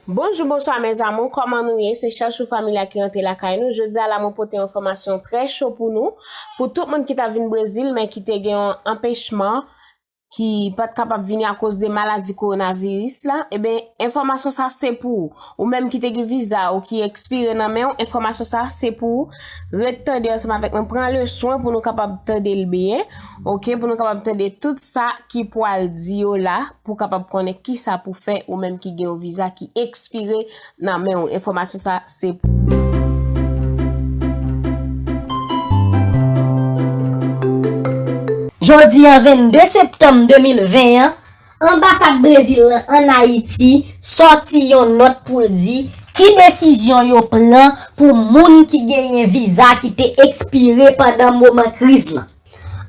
Bonjou bonswa mes amour kòman nou ye se chachou familia ki rantre lakay nou jodia la mwen pote yon enfòmasyon trè cho pou nou pou tout moun ki ta vin brezil men ki te gen yon anpechman ki pat kapab vini akoz de maladi kowonaviris la eben enfòmasyon sa se pou ou Ou menm ki te gen viza ou ki ekspire nan men ou, enfòmasyon sa a se pou ou ret tande ansanm avèk mwen, pran le swen pou nou kapab tande l byen, ok, pou nou kapab tande tout sa ki pwal di yo la, pou kapab konnen ki sa pou fè ou menm ki gen yon viza ki ekspire nan men ou, enfòmasyon sa a se pou ou. Jodi a 22 septanm 2020 an. Anbasad Brezil lan an Ayiti sòti yon nòt pou l di ki desizyon yo pran pou moun ki genyen viza ki te ekspire pandan moman kriz lan.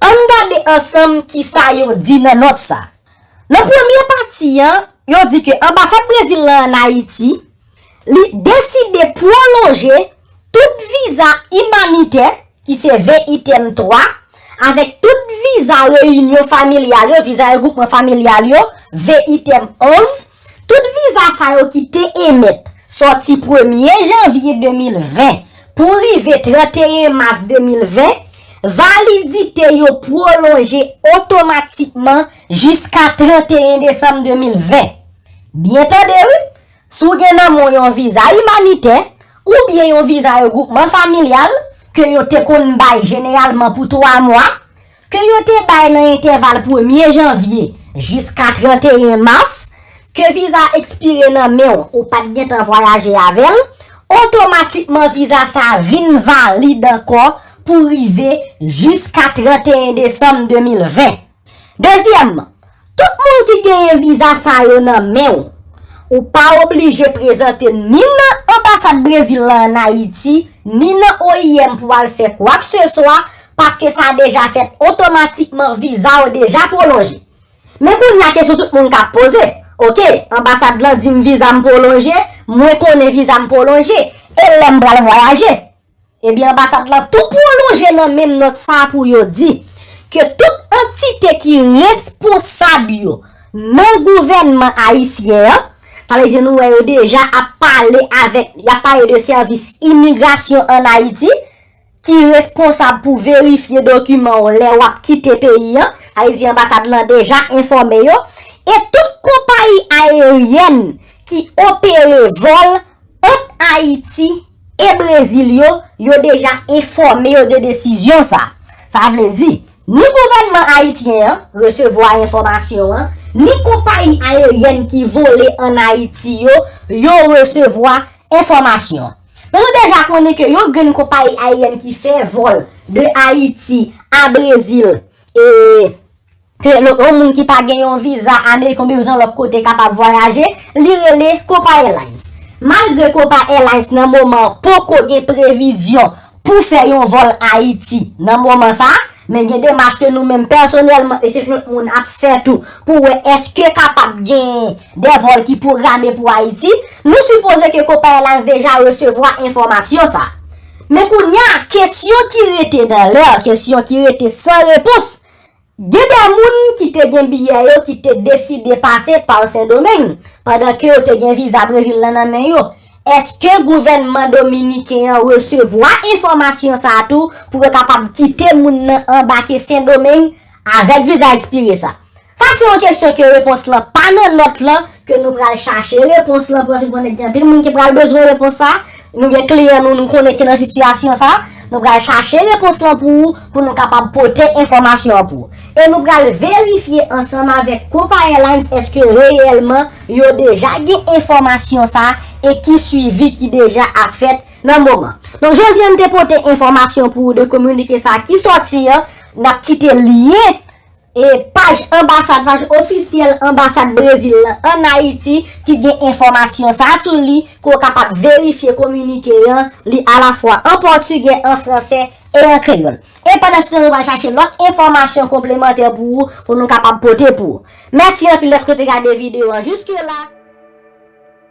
Ann gade ansanm ki sa yo di nan nòt sa. Nan premye pati an, yo di ke Anbasad Brezil lan an Ayiti, Li deside pwolonje tout viza imanitè, ki se ve item 3, avèk tout viza reyinyon familyal yo, viza regwoupman familyal yo, ve item 11. Tout viza sa yo ki te emèt sòti premye janvye 2020 pou rive 31 mas 2020, validite yo pwolonje otomatikman jiska 31 desanm 2020. Byen tande wi! Si w gen nan men w yon viza imanitè oubyen yon viza regwoupman familyal ke yo te konn bay jeneralman pou twa mwa, ke yo te bay nan entèval premye janvye jiska 31 mas, ke viza a ekspire nan men w, ou pa t gen tan vwayaje avè l, otomatikman viza sa a vin valid ankò pou rive jiska 31 desanm 2020. Dezyèmman, tout moun ki genyen viza sa yo nan men w, ou pa oblije prezante ni nan Anbasad Brezil la an Ayiti, ni nan oim pou al fè kwakseswa, paske sa deja fèt otomatikman, viza w deja pwolonje. Men kounye a kesyon tout moun ka poze, ok, anbasad lan di m viza m pwolonje, mwen konnen viza m pwolonje, e lè m pral vwayaje? Ebyen anbasad lan tou pwolonje nan menm nòt sa a pou yo di ke tout antite ki responsab yo nan gouvènman ayisyen an, sa vle di nou wè yo deja ap pale avèk, y ap pale de sèvis imigrasyon ann Ayiti ki responsab pou verifye dokiman w lè w ap kite peyi an, sa vle di anbasad lan deja enfòme yo, e tout konpayi ayeryèn ki opere vòl Ant Ayiti e Brezil yo, yo deja enfòme yo de desizyon sa. Sa vle di, ni gouvènman ayisyen an resevwa enfòmasyon an, ni konpayi ayeryèn ki vole an Ayiti yo, yo resevwa enfòmasyon an. Men nou deja konnen ke yon grenn konpayi ayeryèn ki fè vòl de Ayiti a Brezil e. Ke yon moun ki pa gen yon viza ameriken oubyen yon jan lòt kote kapab vwayaje, li rele Copa Airlines. Malgre Copa Airlines nan moman an poko gen previzyon pou fè yon vòl Ayiti nan moman sa, men gen demach ke nou menm pèsonèlman e kèk lòt moun ap fè tou pou wè eske kapab gen de vòl ki pwograme pou Ayiti. Nou sipoze ke Copa Airlines deja resevwa enfòmasyon sa. Men kounye a, kesyon ki rete dan lè, kesyon ki rete san repons, Gen de moun ki te gen biyè yo ki te deside pase pa Sendomeng pandan ke yo te gen viza Brezil lan nan men yo. Eske gouvènman dominiken an resevwa enfòmasyon sa a tou pou yo kapab kite moun nan anbake Sendomeng avèk viza ekspire sa? Sa se yon kesyon ke repons lan pa nan nòt lan ke nou pral chache repons lan pou nou fin konnen gen anpil moun ki pral bezwen repons sa, nou gen kliyan nou nou konnen ki nan sitiyasyon sa, nou pral chache repons lan pou ou pou nou kapab pote enfòmasyon an pou ou. E nou pral verifye ansanm avèk Copa Airlines èske reyèlman yo deja gen enfòmasyon sa e ki swivi ki deja ap fèt nan moman. Donk Josiane te pote enfòmasyon pou ou de kominike sa ki sòti an, n ap kite lyen E paj anbasad, paj ofisyèl anbasad Brezil lan an Ayiti ki gen enfòmasyon sa sou li ke w kapab verifye kominike an, li alafwa an pòtigè, an fransè e an kreyòl. E pandanstan nou pral chache lòt enfòmasyon konplemantè pou ou pou nou kapab pote pou ou. Mèsi anpil dèske w te gade videyo an jouske la.